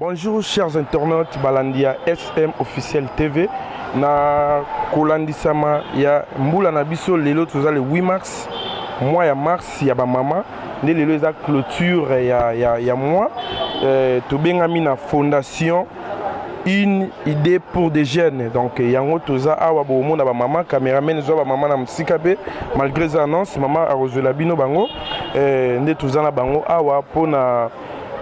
Bonjour chers internautes balandi ya SM officiel TV na kolandisama ya mbula na biso lelo toza le 8 mars mois ya mars ya bamama nde lelo eza clôture ya, ya, ya mois euh, tobengami na fondation une idée pour des jeunes donc yango toza awa bokomona bamama cameraman ezwa bamama na mosika mpe malgré eza annonce mama akozwela bino bango euh, nde toza na bango awa mpona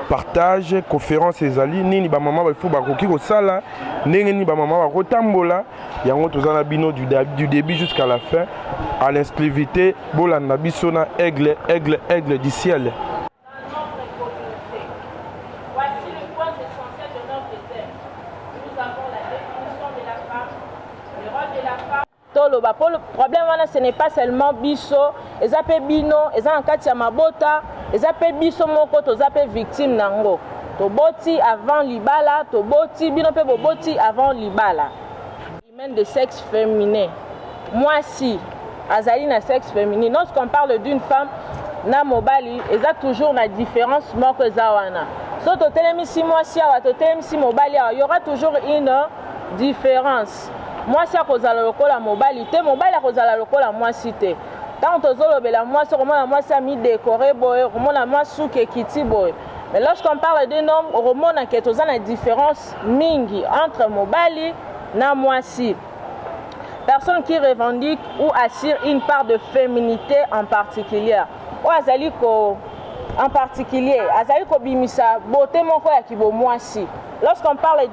partage conférence ezali nini bamama bafo bakoki kosala ndenge nini bamama bakotambola yango toza na bino du, du début jusqu'à la fin à l'inscrivité bolanda biso na aigle aigle aigle du ciel toloba po problème wana ce n'est pas seulement biso eza pe bino eza na kati ya mabota eza pe biso moko toza pe victime na yango toboti avant libala toboti bino pe boboti avant libala humaine de sexe féminin mwasi azali na sexe féminin lorsqu'on parle d'une femme na mobali eza toujours na différence moko eza wana so totelemisi mwasi awa totelemisi mobali awa y aura toujours une différence Mwasi akozala lokola mobali te, mobali akozala lokola mwasi te. Ntango tozolobela mwasi, okomona mwasi amidekore boye, okomona mwasi suki ekiti boye. Mais lorsqu'on parle d'un homme, okomona ke toza na différence mingi entre mobali na mwasi. Personne qui revendique ou assure une part de féminité en particulier. Oyo azali ko en particulier, azali kobimisa beauté moko ya kibomwasi. Lorsqu'on parle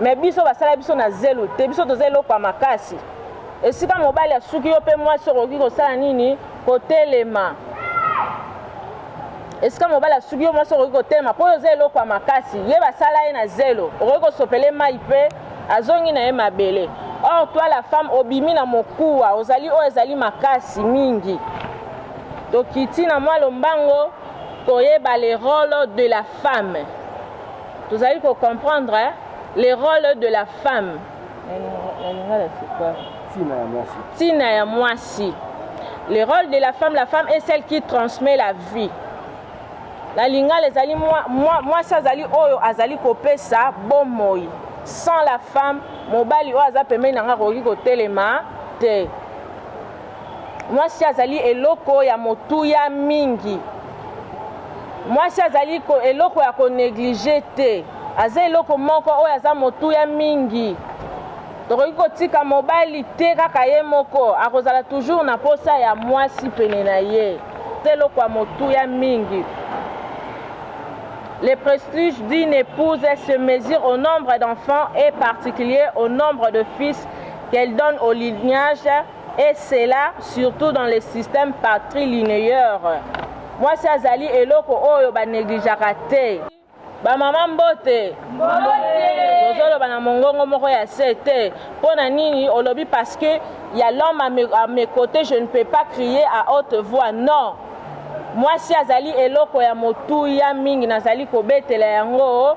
Mais biso basala biso na zelu te, biso toza eloko ya makasi. Esika mobali asuki yo mpe mwasi okoki kosala nini? Kotelema. esika mobali asuki yo mwasi okoki kotelema mpo oyo oza eloko ya makasi ye basala ye na zelo okoki kosopele mai mpe azongi na ye mabele or toi la femme obimi na mokuwa ozali oyo ezali makasi mingi tokiti na mwa lombango koyeba le role de la femme Tozali ko comprendre le role de la femme. Na lingala c'est quoi? Tina ya mwasi. Tina ya mwasi. Le rôle de la femme, la femme est celle qui transmet la vie. na lingala ezali mwasi azali oyo azali kopesa bomoi sans la femme mobali oyo aza pembeni na ngai akoki kotelema te Mwasi azali eloko ya motuya mingi. Mwasi azali ko eloko ya ko negliger te. Aza eloko moko oyo aza motuya mingi. Tokoki kotika mobali te kaka ye moko akozala toujours na posa ya mwasi pene na ye. Te eloko ya motuya mingi. Le prestige d'une épouse se mesure au nombre d'enfants et particulier au nombre de fils qu'elle donne au lignage et cela surtout dans le système patrilinéeur mwasi azali eloko oyo baneglijaka te bamama mbote tozoloba na mongongo moko ya se te mpo na nini olobi parce que ya l'homme à mes, à mes côtés je ne peux pas crier à haute voix non mwasi azali eloko ya motuya mingi nazali kobetela yango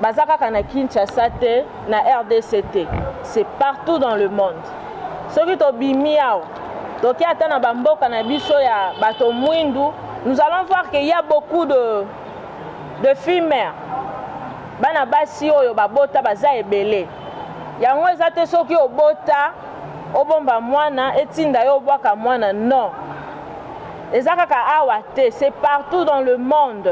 Baza kaka na Kinshasa te, na rdc te. C'est partout dans le monde. Soki tobimi awa, toke ata na bamboka na biso ya bato mwindu, nous allons voir qu'il y a beaucoup de, de filmer. Bana basi oyo babota baza ebele. Yango eza te soki obota obomba mwana etinda yo obwaka mwana non eza kaka awa te c'est partout dans le monde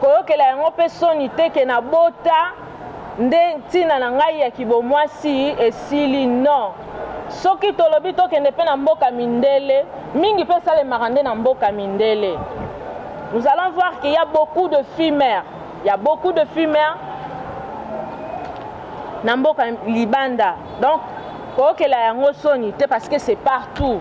Koyokela yango mpe soni te ke nabota nde ntina na ngai ya kibomwasi esili non soki tolobi tokende mpe na mboka mindele mingi mpe esalemaka nde na mboka mindele nous allons voir qu'il y a beaucoup de filmer il y a beaucoup de filmer na mboka libanda donc koyokela yango soni te parce que c'est partout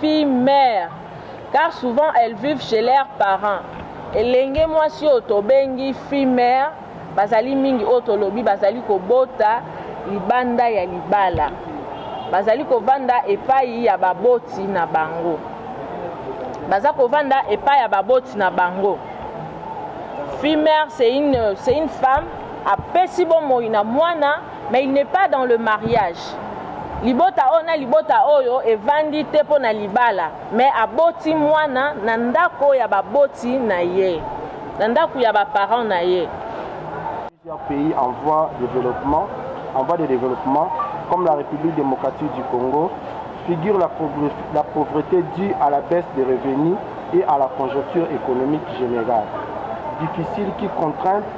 filles mères car souvent elles vivent chez leurs parents. Elenge mwasi oyo tobengi fille mère bazali mingi oyo tolobi bazali kobota libanda ya libala. Bazali kovanda epai ya baboti na bango. Baza kovanda epai ya baboti na bango. Fille mère c'est une, c'est une femme apesi bomoi na mwana Mais il n'est pas dans le mariage. Libota oyo na libota oyo evandi te mpo na libala, mais aboti mwana na ndako ya baboti na ye, na ndako ya ba parents na ye. Plusieurs pays en voie de développement, en voie de développement, comme la République démocratique du Congo, figure la, pauvre- la pauvreté due à la baisse des revenus et à la conjoncture économique générale. Difficile qui contraint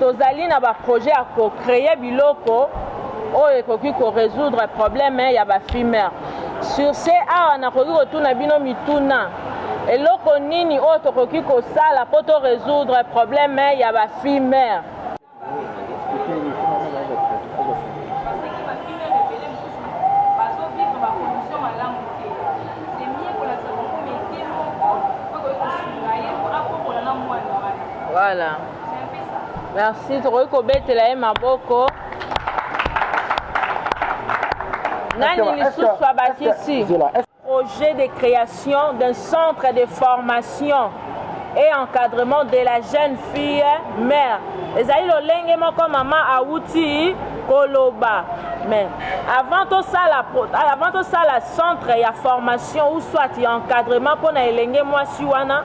Tozali na ba projets ya ko creer biloko oyo ekoki ko resoudre probleme ya ba fumeurs. Sur ce, awa nakoki kotuna bino mituna. Eloko nini oyo tokoki kosala mpo to resoudre probleme ya ba fumeurs? Voilà. Merci, tokoki kobetela ye maboko. Nani lisusu abakisi projet de création d'un centre de formation et encadrement de la jeune fille mère ezali lolenge moko mama awuti koloba mais avant tosala avant tosala centre ya formation ou soit ya encadrement mpo na elenge mwasi wana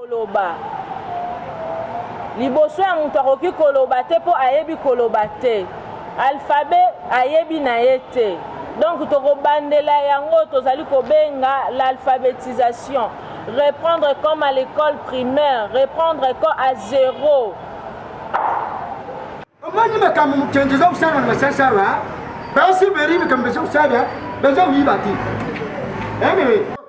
koloba liboso ya moto akoki koloba te mpo ayebi koloba te alfabe ayebi na ye te donc tokobandela yango tozali kobenga l'alphabetisation reprendre comme à l'école primaire reprendre ko à zero omoni makambo mokenzi eza kosala na basasala basi beri makambo eza kosala baza koyiba te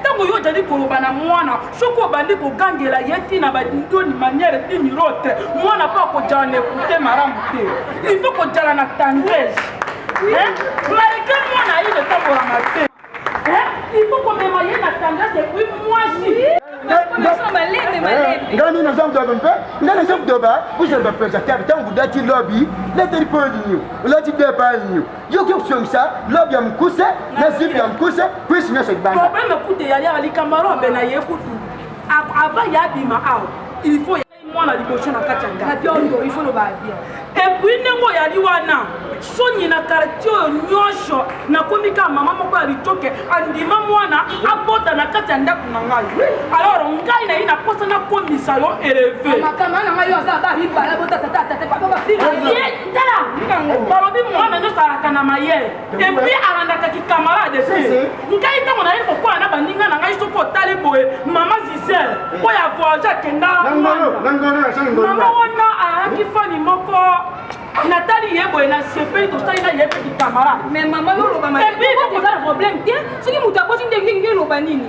ntango yo ojali koloba na mwana soki obandi kogangela ye ntina badidoni manière dimirote mwana mpo akojala na ekute malamu te ilfo kojala na tendresse malgré mwana ayi etambolaka te ilfo komema ye na tendresse epuis mwasi ngani naza mdobe mpe nga naza mdoba vous êtes ma présentateur ntango dati lobi leteli mpo nini olati deba nini yo ke kusongisa lobe ya mukuse na zipi ya mukuse kwisi nyonso libanda problème kutu eyali awa likambo alo abe na ye kutu avant ya abima awa il faut mwana liboso na kati ya ndako il faut loba bien epuis ndenge oyali wana soni na kartier oyo nyonso nakomi kaka mama moko ya litoke andima mwana abota na kati ya ndako na ngai alors ngai naye naposa nakomisa yo eleve tala balobi mwana nyonso alaka na mayele epuis alandaka kikamarade te ngai ntango naye kokola na baninga na ngai soki otali boye mama zisel oyo avoyage akenda mama wana ayaki fani moko natali ye boye na sepeli tosali na ye mpe kikamarade mais mama yo olobamaepuis eza problème te soki moto aboti ndenge nge eloba nini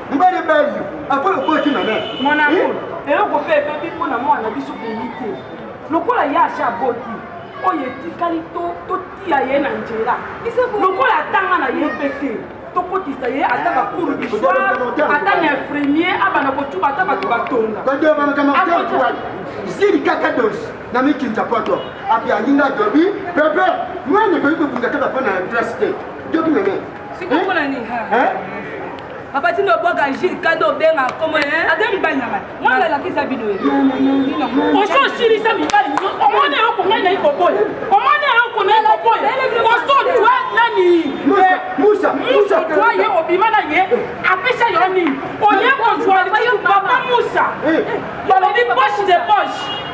libali ebali apres lokola tina na monamo eloko mpe ebebi mpo na mwana biso peyi te lokola ye asha aboti oyo etikali totia ye na nzela lokola atanga na ye mpe te tokotisa ye ata ah, bakuru biswa ata na infirmier abana kocuba ata bato batonga zili kaka dosi na mikinza poto api alinga dobi pepe mwana ekoki kobunda kaka mpo na place te doki meme papa tino obwaka jile kado obenga komo aza mibali na ngai mwana alakisa bino oso osilisa mibali omoni yoko ngai nayi koboya omoni yoko nayi koboya oso twa nani musa twa ye obima na ye apesa yo nini oye kozwa papa musa balobi poche de poche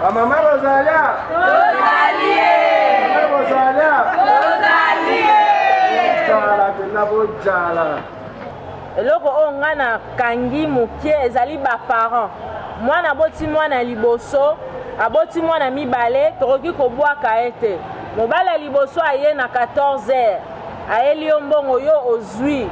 Bamama bozala tozalie bozala tozalie bojala mpenza bojala eloko oyo ngai nakangi moke ezali baparent mwana aboti mwana ya liboso aboti mwana mibale tokoki kobwaka ye te mobali ya liboso aye na 14 heures ayeli yo mbongo yo ozwi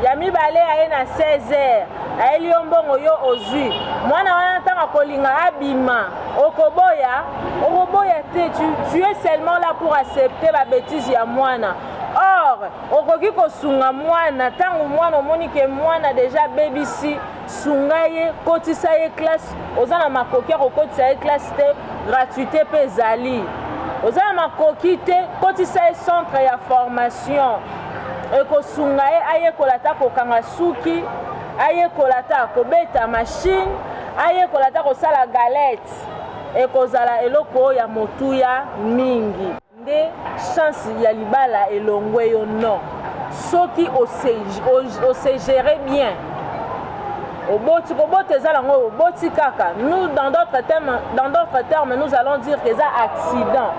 ya mibale aye na 16 heures ayeli yo mbongo yo ozwi mwana wana ntango akolinga abima okoboya okoboya te tu, tu es seulement là pour accepter babetise ya mwana or okoki kosunga mwana ntango mwana omoni ke mwana deja abebisi sunga ye kotisa ye classe oza na makoki ya kokotisa ye classe te gratuité mpe ezali oza na makoki te kotisa ye centre ya formation ekosunga ye ayekola ata kokanga suki ayekola ata kobeta mashine ayekola ata kosala galete ekozala eloko ya motuya mingi nde chance ya libala elongwe yo non soki ose gérer bien oboti kobota eza nango oboti kaka nous dans d'autres termes, dans d'autres termes nous allons dire que eza accident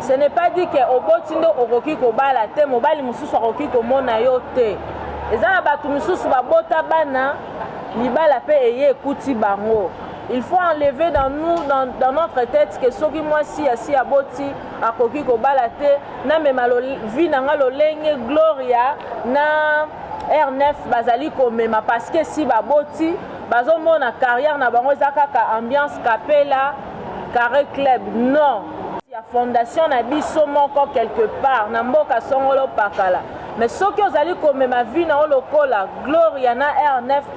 ce n'est pas dit que oboti nde okoki kobala te mobali mosusu akoki komona yo te eza na bato mosusu babota bana libala mpe eye ekuti bango il faut enlever dans nous dans, dans notre tête que soki mwasi asi aboti akoki kobala te namema vi na nga lolenge gloria na r9 bazali komema parce que si baboti bazomona carrière na bango eza kaka ambiance kapela carré club non ya fondation na biso moko quelque part na mboka songolo pakala mais soki ozali komema vi na yo lokola gloria na r9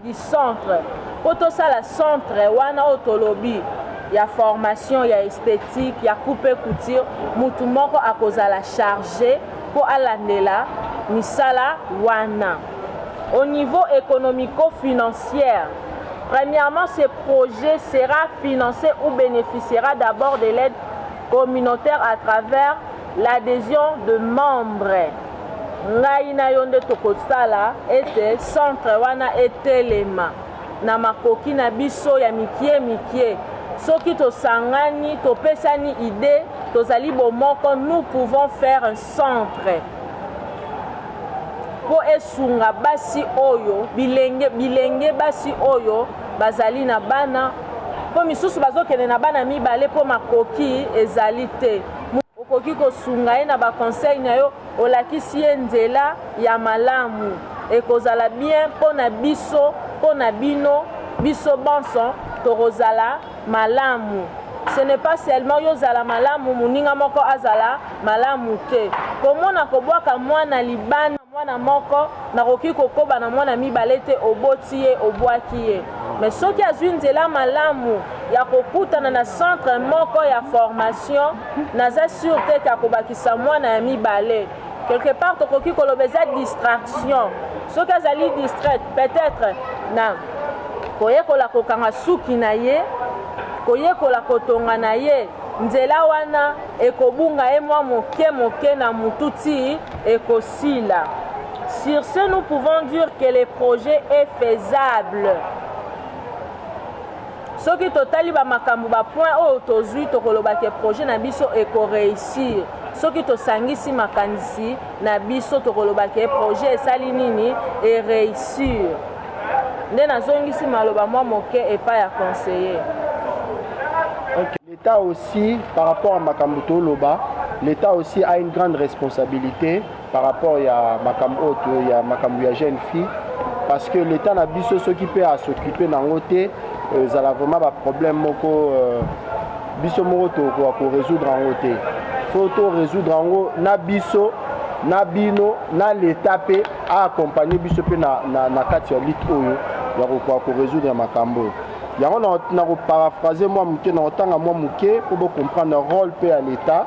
du centre po tosala centre wana oyo tolobi ya formation ya esthétique ya coupe couture mutu moko akozala charge mpo alandela misala wana au niveau économico financière premièrement ce projet sera financé ou bénéficiera d'abord de l'aide communautaire à travers L'adhesion de membres ngai na yo nde tokosala ete centre wana etelema na makoki na biso ya mikie mikie soki tosangani topesani idee tozali bomoko nous pouvons faire un centre mpo esunga basi oyo bilenge, bilenge basi oyo bazali na bana mpo misusu bazokende na bana mibale mpo makoki ezali te Okoki kosunga ye na ba conseil na yo, olakisi ye nzela ya malamu. Ekozala bien mpo na biso, mpo na bino, biso banso tokozala malamu. Ce n'est pas seulement yo zala malamu, moninga moko azala malamu te. Komona kobwaka mwana libanda mwana moko nakoki kokoba na mwana mibale te oboti ye obwaki ye mais soki azwi nzela malamu ya kokutana na centre moko ya formation naza sur te ete akobakisa mwana ya mibale quelque part tokoki koloba eza distraction soki azali distraite peut-être na koyekola kokanga suki na ye koyekola kotonga na ye nzela wana ekobunga ye mwa moke moke na motu ti ekosila sur ce nous pouvons dire que le projet est faisable Soki totali ba makambo ba points oyo tozui, tokoloba ke projet na biso eko reussir. Soki tosangisi makanisi na biso, tokoloba ke projet esali nini? E reussir. Nde nazongisi maloba mwa moke epai ya conseiller. Okay. L'Etat aussi, par rapport à makambo toloba, l'Etat aussi a une grande responsabilite. par rapport ya makambo oyo to ya makambo ya jeune fille parce que l'état na biso soki mpe asoccupe nango te ezala vraiment baproblème moko euh, biso moko tokoka korésoudre yango te fo to résoudre yango na biso na bino na l'état mpe aakompagne biso mpe na, na, na kati ya lite oyo ya kokoka korésoudre makambo oyo yango na koparaphrase mwa moke na kotanga mwa moke mpo bocomprendre role mpe ya l'état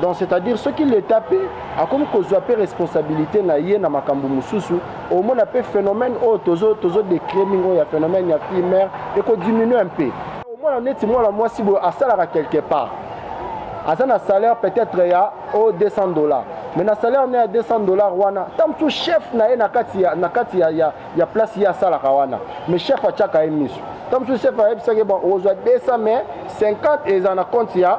donc c'est-à-dire soki leta mpe akomi kozwa mpe responsabilité na ye na makambo mosusu omona mpe phénomène oyo tozo tozo décrie mingi oyo ya phénomène ya fille mère ekodiminue mpe omona neti mwana mwasi boye asalaka quelque part aza na salaire peut-être ya o 200 dollars mais na salaire na ya 200 dollars wana ta mosusu chef na ye na kati ya, na kati ya, ya, ya place ye asalaka wana mais chef atiaka ye miso ta mosusu chef ayebisaki bon ozwa 200 mais 50 eza na compte ya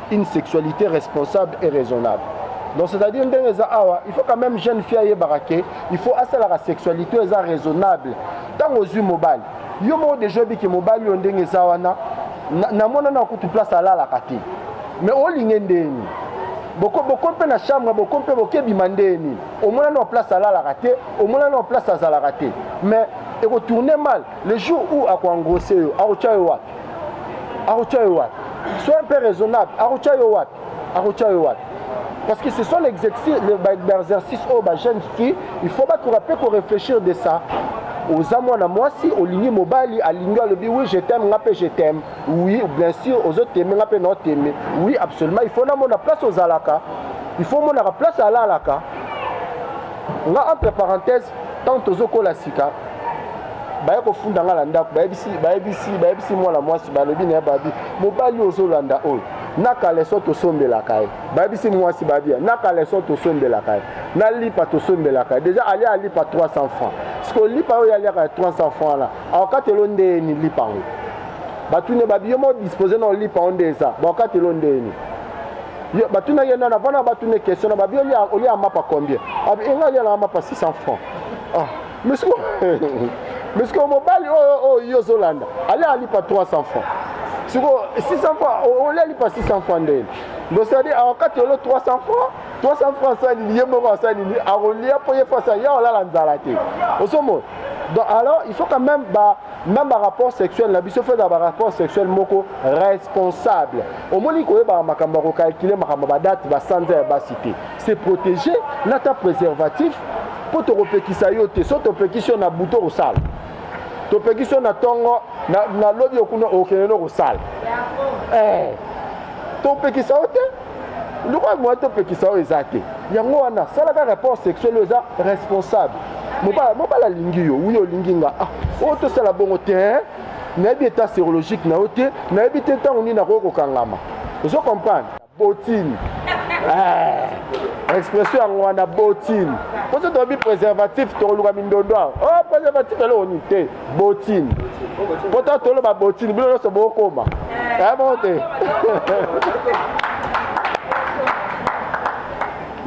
une sexualité responsable et raisonnable donc c'est-à-dire ndenge eza awa il faut quand même jeune fille ayebaka ke il faut asalaka sexualité oyo eza raisonnable ntango ozwi mobali yo moko deja oyebiki mobali oyo ndenge eza wana namona na kutu place alalaka te mais olinge ndeni boko mpe na chambre boko mpe bokebima ndeni omona na place alalaka te omona na place azalaka te mais ekotourne mal le jour où akoangrose yo akotya yo wapi akotia yo wapi sois un peu raisonnable akotia yo wapi akotia yo wapi parce que ce sont les exercices oyo ba jeune fille il faut bakoka mpe korefléchir de ça oza mwana mwasi olingi mobali alingi alobi oui je t'aime nga mpe je t'aime oui bien sûr ozoteme nga mpe naoteme oui absolument il faut namona place ozalaka il faut omonaka place alalaka nga entre parenthèse ntango tozokola sika baye kofunda ngai na ndako bayebisi bayebisi bayebisi mwana mwasi balobi na ye babi mobali oyo ozolanda oyo na kaleso tosombelaka ye bayebisi mwasi babia na kaleso tosombelaka ye na lipa tosombelaka ye deja alia alipa 300 francs sikoyo lipa oyo aliaka ya 300 francs wana akokatelo ndeyeni lipa yango batuni babi yo modispose na olipa yango nde eza bakokatelo ndeyeni Ye, batuna ye nana vana batuna question na babi olia olia mapa combien abi enga olia na mapa 600 francs ah mais siko mais siko mobali oyo oh, oyo oh, yo ozolanda ali alipa 300 francs siko 600 francs olia alipa 600 francs ndeni donc c'est à dire awakati olo 300 francs 300 francs asalili ye moko asalili akolia mpo ye fasa ya olala nzala te osomona donc alors il faut quand même ba Même ba rapport sexuel na biso fedaka ba rapport sexuel moko responsable omoni koyebaka makambo ya kokalkile makambo ba date basanza ya basi te se protege na ta préservatif mpo tokopekisa yo te so topekisi yo na buto kosala topekisi yo na ntongo na lobi okuna okende nokosala eh, topekisa yo te lokola moya topekisa oyo eza te yango wana salaka rapport sexuel oyo eza responsable mobala mobala alingi yo wi olingi nga ah, oyo tosala bongo te nayebi etat serologique na yo te nayebi te ntango nini nakoki kokangama ozo comprendre botine eh, expression yango wana botine mposo toyebi préservatif tokoluka mindondo awa o oh, préservatif eloko nini te botine mpo ta toloba botine bino nyonso bokoma ya moko te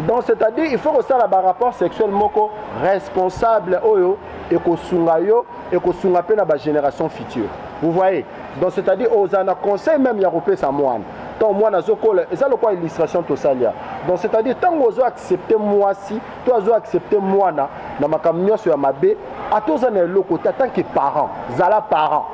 donc c'est-à-dire il faut kosala barapport sexuel moko responsable oyo ekosunga yo ekosunga mpe na bagénération future vous voyez donc c'est-à-dire ozala na conseil même ya kopesa mwana ntango mwana azokola eza lokola illustration tosalia donc c'est-à-dire ntango ozo accepte mwasi to azo accepter mwana na makambo nyonso ya mabe ata oza na eloko te atanke parent zala parent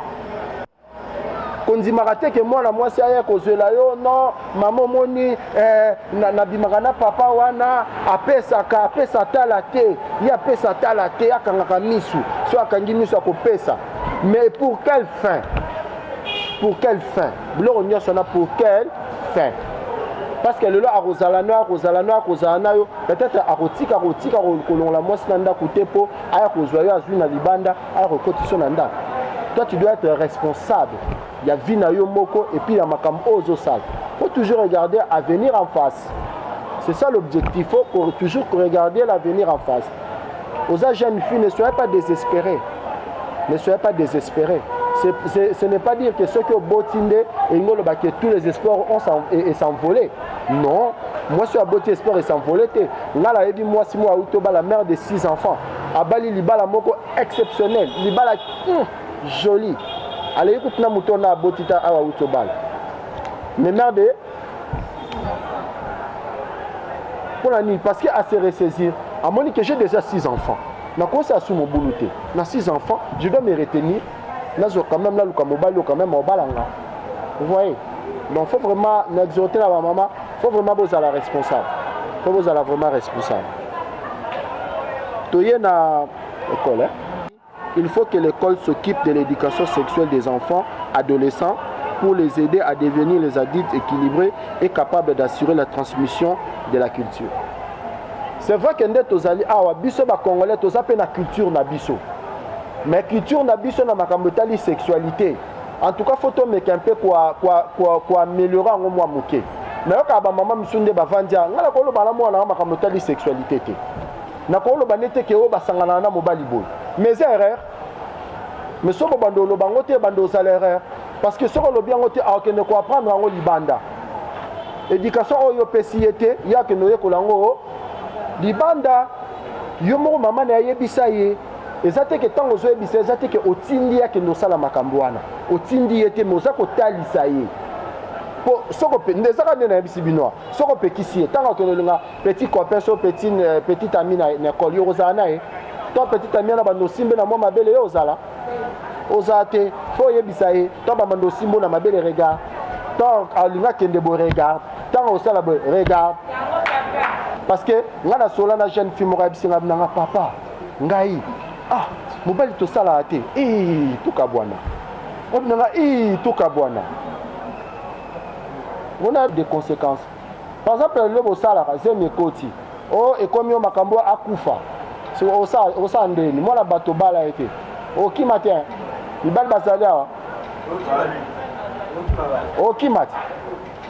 kondimaka te ke mwana mwasi aya kozwela yo non mama omoni eh, nabimaka na, na papa wana apesaka apesa tala te ye apesa tala te akangaka misu so akangi misu akopesa mais pour quelle fin pour quelle fin biloko nyonso wana pour quelle fin parce que lelo akozala no akozala no akozala na yo peut-être akotika kotika kolongola mwasi na ndako te mpo aya kozwa yo azwi na libanda aya kokotisa yo na ndako toi tu dois être responsable ya vie na yo moko epuis ya makambo oyo ozosala faut toujours regarder avenir en face c'est ça l'objectif faut toujours regarder l'avenir en face oza jeune fille ne soyez pas désespéré ne soyez pas désespéré ce n'est pas dire que soki oboti nde elingi olobaki tous les espoirs ont s'envolé Non, mwasi oyo aboti espoir esanvole te. Ngai nayebi mwasi moko auti obala mère de six enfants, abali libala moko exceptionnel, libala mm, joli, aleki kutu na moto na aboti ta awa auti obala mais mère de mpo na nini parce que a se ressaisir amoni que j'ai déjà six enfants nakosi asu mobulu te na six enfants je dois me retenir nazwa quand même naluka mobali oyo quand même obala nga vous voyez donc faut vraiment na exhorte na bamama faut vraiment bozala responsable faut bozala vraiment responsable toye na ekole il faut que l'école s'occupe de l'éducation sexuelle des enfants adolescents pour les aider à devenir les adultes équilibrés et capables d'assurer la transmission de la culture c'est vrai que nde tozali awa biso bacongolais toza mpe na culture na biso mais culture na biso na makambo etali sexualité en tout cas faut tomeka mpe koameliore yango mwa moke nayokaka bamama misu nde bavandi a ngai nakoloba na mwana yango makambo etali sexualité te nakoloba nde te ke oyo basanganaka na mobali boye mais eza erreur mais soki obanda oloba yango te ebanda ozala erreur parce que soki olobi yango te akokende koapprendre yango libanda éducation oyo opesi ye te ye akende oyekola yango libanda yo moko mama na ye ayebisa ye eza te ke ntango ozoyebisa eza te ke otindi ye akende osala makambo wana otindi ye te me oza kotalisa ye po soko nde ezaka nde nayebisi bino soko opekisi ye ntango akende olinga petit copain so petit, euh, petit ami na, na ekole yo kozala na ye to petit ami wana bando osimbe na mwa mabele yo ozala ozala te mpo oyebisa ye to bamando osimbo na mabele regard ntango alinga akende boye regard ntango osala boye regard parce que ngai nasola na jeune fille moko ayebisi ngai nanga papa ngai ah mobali tosalaka te ee tokabwana obi na nga ee tokabwana wana de conséquence par exemple lelo bosalaka zemi ekoti o oh, ekomi yo makambo akufa osala ndeni mwana bato obala ye te okima te mibali bazali awa okima te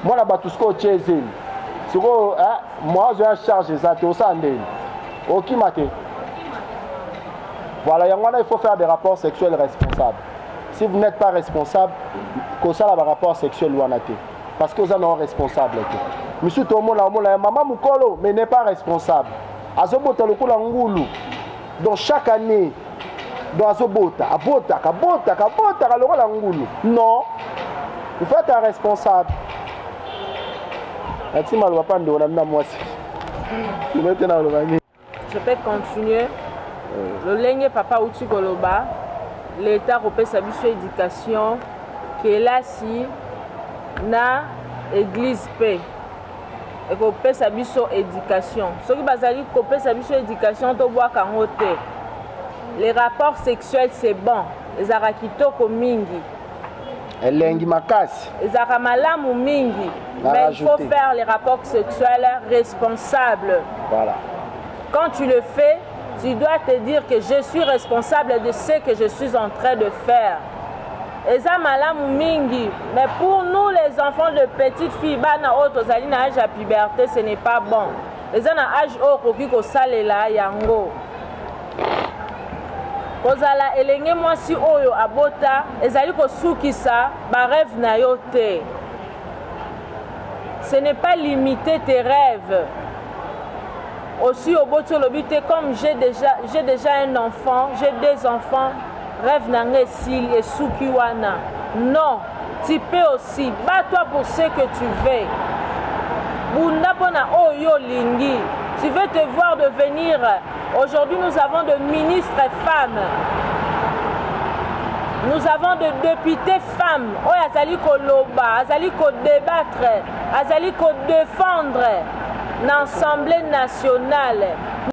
mwana bato sikoyo otye ezeli sikoyo eh, mwazo ya charge eza te osala ndeni okima te voilà yango wana il faut faire des rapports sexuels responsables si vous n'êtes pas responsable kosala barapport sexuel wana te parce que oza nao responsable te misusu tomona omona ya mama mokolo mais n'est pas responsable azobota lokola ngulu donc chaque année donc azobota abotaka abotaka abotaka lokola ngulu non il faut être responsable nati maloba mpa ndeko na bino mwasi ino te naloba nini je peux continuer lolenge papa auti koloba leta akopesa biso éducation kelasi na église mpe ekopesa biso education soki bazali kopesa biso education tobwaka yango te les rapports sexuels c'est bon ezalaka kitoko mingi elengi makasi ezalaka malamu mingi mais il faut faire les rapports sexuels responsables voilà quand tu le fais tu dois te dire que je suis responsable de ce que je suis en train de faire eza malamu mingi mais pour nous les enfants de petite fille bana oyo tozali na age ya puberté ce n'est pas bon eza na age oyo okoki kosalela yango kozala elenge mwasi oyo abota ezali kosukisa bareve na yo te ce n'est pas limiter tes rêves osi oboti olobi te comme j'ai déjà, déjà un enfant j'ai deux enfants Rêve na nga esili esuki wana. Non, tu peux aussi. Bats-toi pour ce que tu veux. Bunda pona oyo oh, lingi. Tu veux te voir devenir. Aujourd'hui, nous avons de ministres femmes. Nous avons de députés femmes. Oyo oh, azali koloba, azali ko débattre, azali ko défendre l'Assemblée nationale.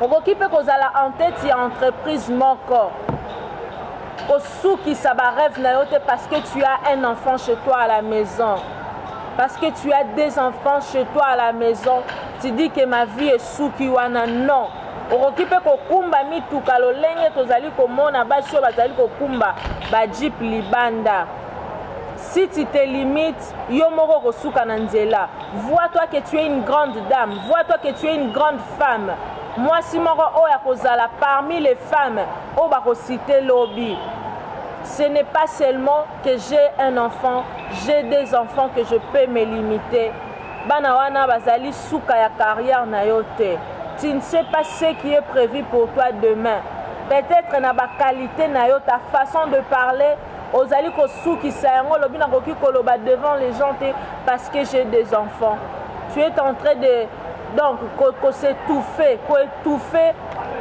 Okoki mpe kozala en tete ya entreprise moko kosukisa barêve na yo te parce que tu as un enfant chez toi à la maison parce que tu as deux enfants chez toi à la maison tu dis que ma vie esuki wana non okoki mpe kokumba mituka lolenge tozali komona basi oyo bazali kokumba bajipe libanda Si tu te limites, yo moko okosuka na nzela. Vois-toi que tu es une grande dame, vois-toi que tu es une grande femme. Mwasi moko oyo akozala parmi les femmes oyo bakosite lobi. Ce n'est pas seulement que j'ai un enfant, j'ai des enfants que je peux me limiter. Bana wana bazali suka ya carrière na yo te. Tu ne sais pas ce qui est prévu pour toi demain. Peut-être na ba qualité na yo, ta façon de parler, ozali kosukisa yango olobi nakoki koloba devant les gens te parce que j'ai des enfants tu es en train de donc kosetufe koetufe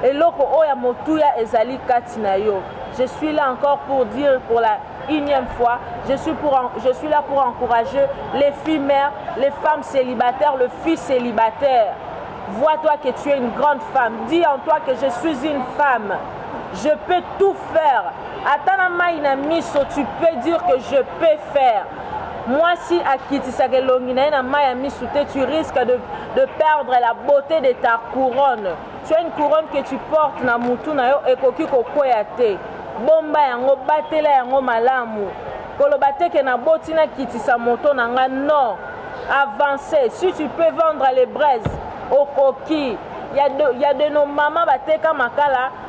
eloko oyo ya motuya ezali kati na yo je suis là encore pour dire pour la unième fois je suis, pour, je suis là pour encourager les filles mères les femmes célibataires le fils célibataire vois-toi que tu es une grande femme dis en toi que je suis une femme je peux tout faire ata na mai na miso tu peux dire que je peux faire mwasi akitisaka elongi na ye na mai ya miso te tu risque de, de perdre la beauté de ta couronne tu as une couronne que tu portes na mutu na yo ekoki kokwea te bomba yango batela yango malamu koloba te ke naboti nakitisa moto na ngai non avancer si tu peux vendre les braises okoki ya de, ya de nos mama bateka makala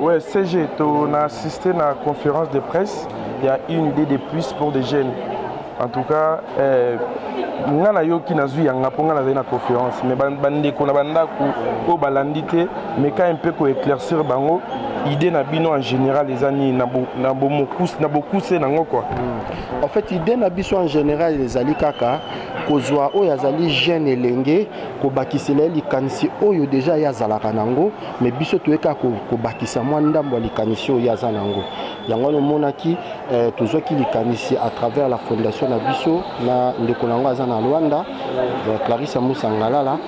Ouais, CG, on a assisté à la conférence de presse. Il y a une idée de plus pour des jeunes. En tout cas, euh, nga na yo ki nazwi yanga mpo nga nazali na conférence mais bandeko na bandako oyo balandi te meka mpe koéclaircir bango idée na bino en général eza nini na bokuse nango kua en fait idée na biso en général ezali kaka kozwa oyo azali jeune elenge kobakisela ye likanisi oyo deja ye azalaka nango me biso toye kaka kobakisa mwa ndambo ya likanisi oyo ye aza na yango yango wana omonaki eh, tozwaki likanisi à travers la fondation na biso na ndeko na yango aza na rwanda eh, clarisse musa ngalala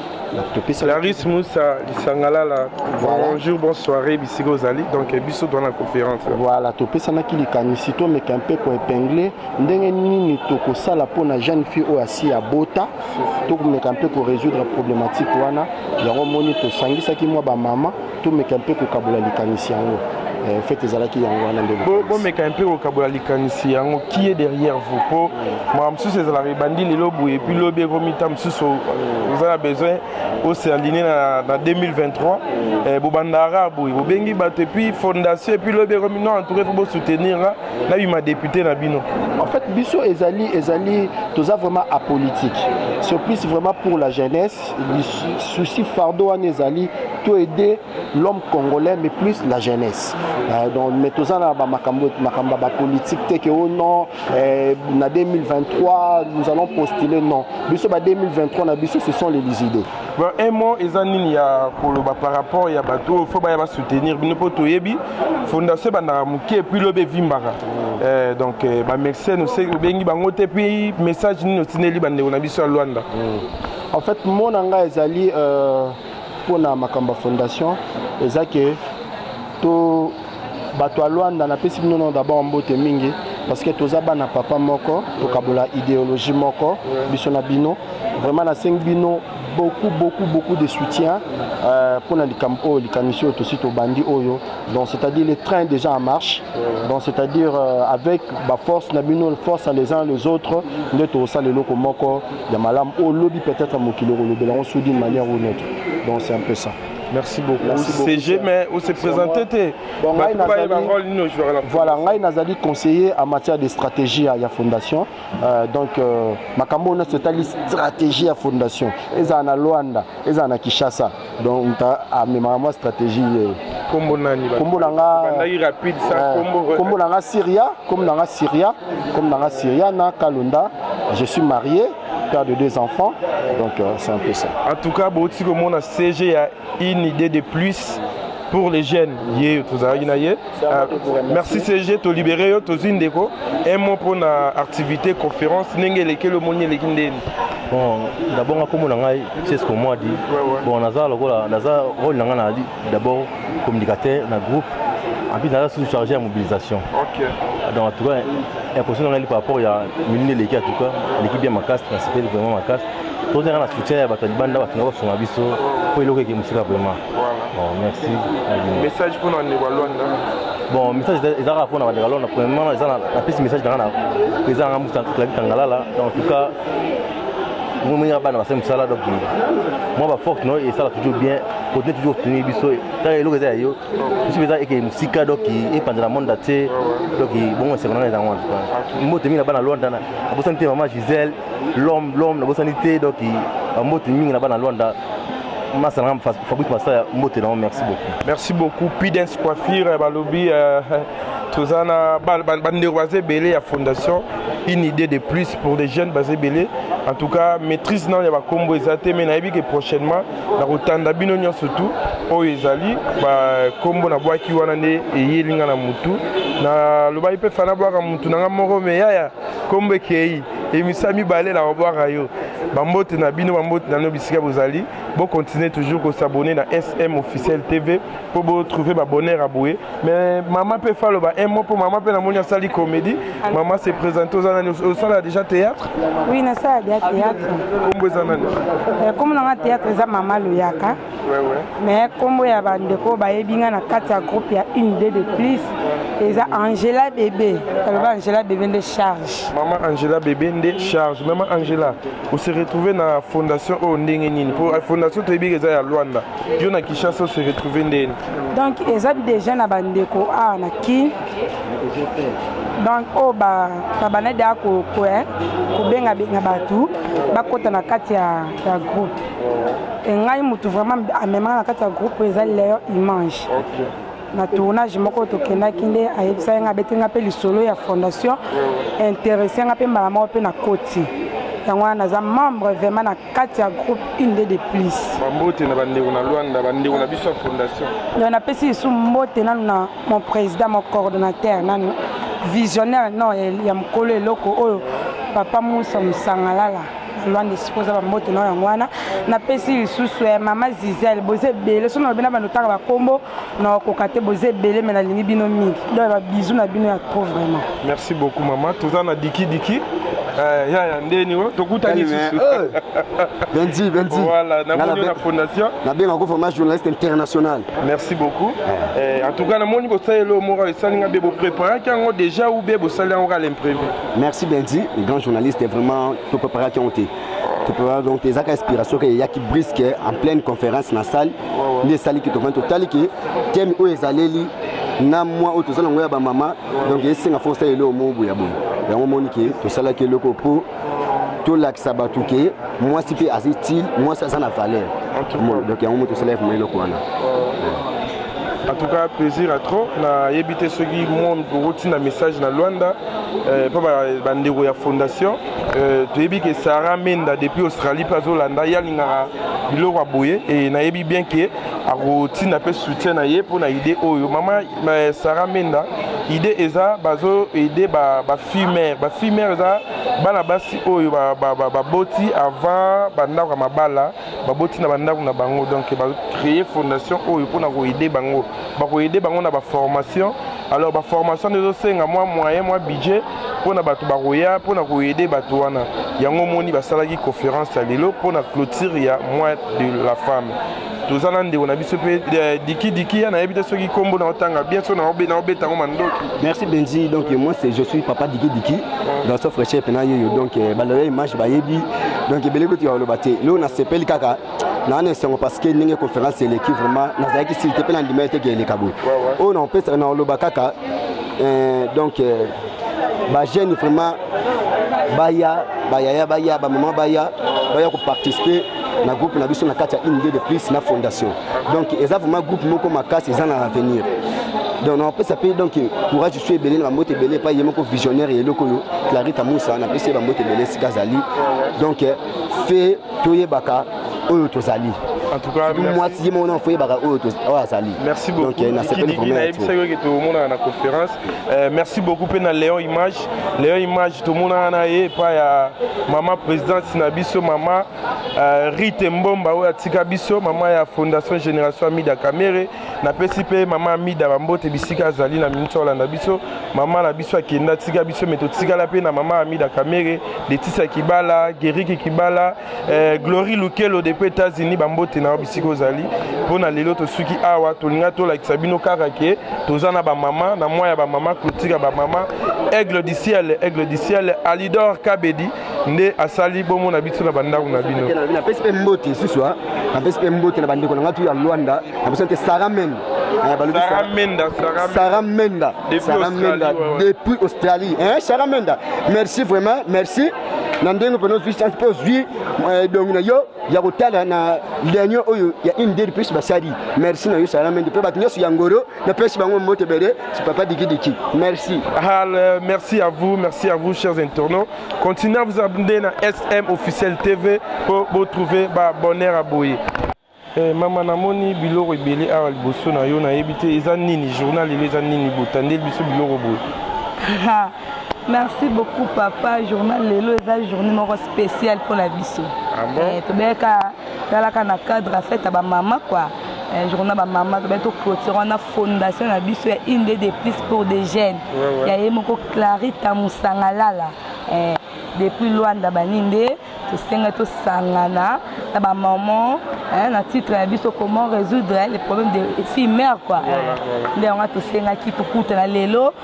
Clarisse Moussa Lisangalala, voilà. bonjour, bonsoir, bisika ozali, donc eh, biso dans la conférence. Voilà, topesanaki likanisi tomeka mpe koepingle ndenge nini tokosala mpo na jeune fille oyo asi ya bota tokomeka mpe koresoudre problematike wana yango moni tosangisaki mwa bamama tomeka mpe kokabola likanisi yango eh, fete ezalaki yango wana nde bomeka mpe kokabola likanisi yango kie derrière vous mpo makambo mosusu ezalaka ebandi lelo boye epuis lobi ekomi ntango mosusu euh, oza na besoin osealine na 2023 eh, bobandaka boye bobengi bato epuis fondation epuis lobi ekomi non entouka fo bosoutenir na bima depute na bino en fait biso ezali ezali toza vraiment apolitique sur plus vraiment pour la jeunesse souci fardeau wana ezali to aider l'homme congolais mais plus la jeunesse euh, donc mais toza na ba makambo makambo ba politique te que oh non euh, na 2023 nous allons postuler non biso ba 2023 na biso ce sont les idées Bon, un mot eza nini ya koloba par rapport ya bato oyo fo baya basoutenir bino mpo toyebi fondation ebandaka moke epuis lobi evimbaka eh, donc eh, bamexene obengi bango te epuis message nini otindeli bandeko na biso ya lwanda mm. en fait mo na ngai ezali euh, mpo na makambo ya fondation eza ke to bato ya Luanda napesi bino nao d'abord mbote mingi parce que toza bana papa moko tokabola ideologie moko biso na bino vraiment nasengi bino beaucoup beaucoup beaucoup de soutien euh, mpo na likambo oyo likanisi oyo tosi tobandi oyo donc c'est-à-dire le train déjà en marche donc c'est-à-dire euh, avec baforce na bino force les uns les autres nde tokosala eloko moko ya malamu oyo lobi peut-être mokili okolobela yango sous d'une manière ou une autre donc c'est un peu ça merci beaucoup merci beaucoup CG mais on se présente te bon ngai nazali rôle nino joueur la voilà ngai nazali conseiller en matière de stratégie ya fondation euh, donc euh, makambo na totali stratégie ya fondation eza na Luanda eza na Kinshasa donc ta amema moi stratégie ye kombo nani kombo na nga bandaki rapide ça euh, kombo kombo na nga Syria comme na nga Syria comme na nga Syria na Kalunda je suis marié père de deux enfants donc euh, c'est un peu ça en tout cas bouti komona CG ya une idée de plus pour les jeunes ye tozalaki na ye euh, merci CG tolibere yo tozwi ndeko un mot mpo na activité conférence ndenge elekeli omoni eleki ndeni bon ndabonga komona ngai c'est ce que moi dit bon naza lokola naza role na ngai na D'abord communicateur na groupe en plus naza sous chargé ya mobilisation okay. donc en tout cas impression na ngai par rapport ya minini eleki en tout cas eleki bien makasi nasepeli vraiment makasi tozali kaka na soutien ya bato ya libanda bato na basunga biso mpo eloko eke mosika vraiment bon merci message mpona ndeko ya lwanda bon message eza kaka mpona bandeko ya lwanda premièrement eza napesi message na ngai na président na ngai musa clavi kangalala donc en tout cas moninga bana basali mosala donc mwa baforte no esala toujours bien continue toujours tenir biso kaka eloko eza ya yo biso eza eke mosika donc epanzela monde atie donc bongo esengo nanga ezango wana mbote mingi na bana lwanda nabosani te mama gisele lome lome nabosani te donc bambote mingi na bana lwanda masa na fabrice masaya mbote nango merci beaucoup merci beaucoup pidens coiffure balobi euh, toza na bandeko baza ebele ya fondation une idée de plus pour des jeunes base ebele en tout cas maîtrise nano ya bakombo eza te mai nayebi ke prochainement nakotanda bino nyonso tu oyo ezali bakombo nabwaki wana nde eyeli nga na motu nalobaki mpe fana bwaka motu na nga moko me yaya kombo ekei emisa mibale na babwaka yo bambote na bino bambote na bino bisika bozali bokontinue toujours kosabone na sm officiel tv mpo bo trouver ba bonheur ya boye mais mama mpe fa aloba un mot mpo mama mpe namoni asali comédie mama se présente oza nani osala déjà théâtre oui nasala déjà théâtre kombo eza nani eh, kombo nanga théâtre eza mama loyaka mais kombo ya bandeko bayebi nga na kati ya groupe ya une de de plus eza angela bebe aloba angela bebe nde charge mama angela bebe nde charge mama angela ose retrouve na fondation oyo ndenge nini mpo eh, fondation toyebi eza ya lwanda yo na kinshasa ose retrouve ndeni donc eza déjà na bandeko awa na kin donc oyo oh, babanda deya kokoya kobengabenga bato bakɔta na kati ya groupe engai motu vraiment amemaka na kati ya groupe oyo eza leon image okay. na tournage moko tokendaki nde ayebisaki ngai abeti ngai mpe lisolo ya fondation interesse ngai mpe mbala moko mpe na koti yango wana naza membre vraiment na kati ya groupe une de de plus bambote na bandeko na lwanda bandeko na biso ya fondation donc napesi lisu mbote nanu na mon président mon coordonnateur nanu visionnaire non ya mokolo eloko oyo papa musa mosangalala lwanda esika oza bambote na yango wana napesi lisusu ya mama zizel boza ebele soki nalobi na bando otanga bakombo Non, kokate boza ebele mais nalingi bino mingi donc ba bisous na bino ya trop vraiment merci beaucoup mama toza na diki diki Eh, yaya ndeni oyo tokutani benzi eh. benzi voilà namoni na fondation nabenga ko vraiment journaliste international merci beaucoup eh. en tout cas namoni kosalela oyo moko esali nga be bopreparaki yango déjà ou be bosali yango kala imprévu merci benzi le grand journaliste vraiment topreparaki yango te topreparaki donc ezaka inspiration ke eyaki brisque en pleine conférence na salle nde esali ke tofandi totali ke teme oyo ezaleli na mwa oyo tozali yango ya bamama donc esenga fo osala eloko moko boya boye yango omoni ke tosalaki eloko mpo tolakisa bato ke mwasi mpe aza utile mwasi aza na valeur donc yango mo tosalaki vraimen eloko wana en tout cas plaisir à trop nayebi te soki monde okotinda message na luanda mpo eh, bandeko ya fondation Euh, toyebi ke sara menda depuis australie mpe azolanda ye alingaka biloko ya boye e nayebi bien ke akotinda mpe soutien na ye mpo na idée oyo mama euh, sara menda idée eza bazo aide bafimere ba bafimere eza bana basi oyo baboti ba, ba, avant bandako ya mabala baboti na bandako na bango donc bacreye fondation oyo mpona koaide bango bakoaide bango na baformation alors ba formation nde ezosenga mwa moyen mwa budget mpo na bato bakoya mpo na koyede bato wana yango omoni basalaki conférence ya lelo mpo na clôture ya mois de la femme toza na ndeko na biso mpe eh, dikidiki ya nayebi te soki nkombo na otanga bien so naobeta yango mandoki merci benzi donc moi c'est je suis papa dikidiki dans ce fraîcheur mpena yeyo donc eh, baloya image bayebi donc ebele kutu ya koloba te leo nasepeli kaka naa na esengo parce que ndenge conférence eleki vraiment nazalaki sili te mpe na ndima eteke eleka boye oyo naopesa naoloba kaka euh, donc euh, bajeune vraiment baya bayaya baya bamama baya baya koparticipe na groupe na biso na kati ya unité de plus na fondation donc eza vraiment groupe moko makasi eza na avenir donc napesa mpe donc courage su ebele na bambote ebele epai ye moko visionnaire ya eloko oyo clarita musa napesi ye bambote ebele esika azali donc fe toyebaka oyo tozali mwasi ye moko nafoyebaka oyo oyo azali merci beaucoup eh, nayebisaki oke tomonaka na conférence eh, merci beaucoup mpe na léon image léon image tomonaka na ye epai ya mama présidente na biso mama eh, rite mbomba oyo atika biso mama ya fondation génération amida camere napesi mpe mama amida bambote bisika azali na miniti olanda biso mama na biso akenda tika biso me totikala mpe na mama amida kamere letisia kibala geriki kibala eh, glory lukelo de mpe etats-unis bambote na yo bisika ozali mpo na lelo tosuki awa tolinga tolakisa bino kaka ke toza na bamama na mwa ya bamama clotire ya bamama aigle du ciel aigle du ciel alidor kabedi nde asali bomo na biso na bandako na bino napesi mpe mbote lisusu ah. napesi mpe mbote na bandeko na ngai tu ya lwanda napesi te sara mende eh, Sarah Menda, Sarah Menda, Sarah Menda, depuis Australie. Hein, Sarah Menda, merci vraiment, merci. na ndenge mpena ozwi chance mpo ozwi edongi eh, na yo ya kotala na dernier oyo ya une dede plus basali merci na yo sara mende mpe bato nyonso ya ngoro napesi bango mbote ebele papa dikidiki merci Hal, merci à vous merci à vous chers internautes continuez à vous abonner na sm officiel tv mpo botrouve baabonner ya boye Eh, mama namoni biloko ebele awa liboso na yo nayebi te eza nini journal elo eza nini botandeli biso biloko boye merci beaucoup papa journal lelo eza journée moko spéciale mpo na biso ah bon? eh, tobeyaka talaka na cadre ya fete ya bamama kua un jour na bamama tobali toclotire wana fondation na biso ya une de de plus pour des jeunes ya ye moko clarita mosangalala eh, depuis lwanda bani nde tosenga tosangana na bamaman na titre na biso comment résoudre le problème de fille mère quoi nde yango tosengaki tokutana lelo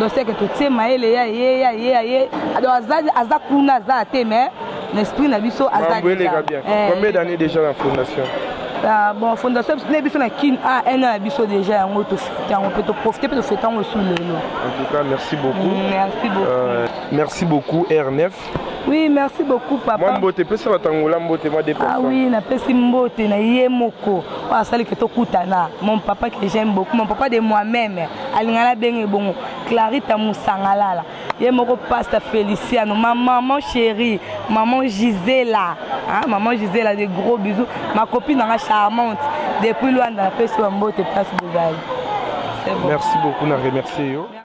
donc c'est que totie mayele ya ye ya ye ya ye donc aza aza kuna aza te mais na esprit na biso aza eleka bien eh. combien d'années déjà na fondation ah, bon fondation na biso na kin a un an ya biso déjà yango tofete yango mpe toprofite mpe tofete yango esu lelo en tout cas merci beaucoup mm, merci beaucoup euh, merci beaucoup r9 Oui, merci beaucoup papa. Mwa mbote pesa batangola mbote mwa deux personnes. Ah oui, napesi mbote na ye moko. Oyo asali ke tokutana. Mon papa que j'aime beaucoup, mon papa de moi-même. Alingana benge bongo. Clarita Musangalala. Ye moko pasta Feliciano, ma maman chérie, maman Gisela. Hein, maman Gisela des gros bisous. Ma copine nanga charmante depuis Luanda napesi mbote place bozali. Bon. Merci beaucoup na remercier yo.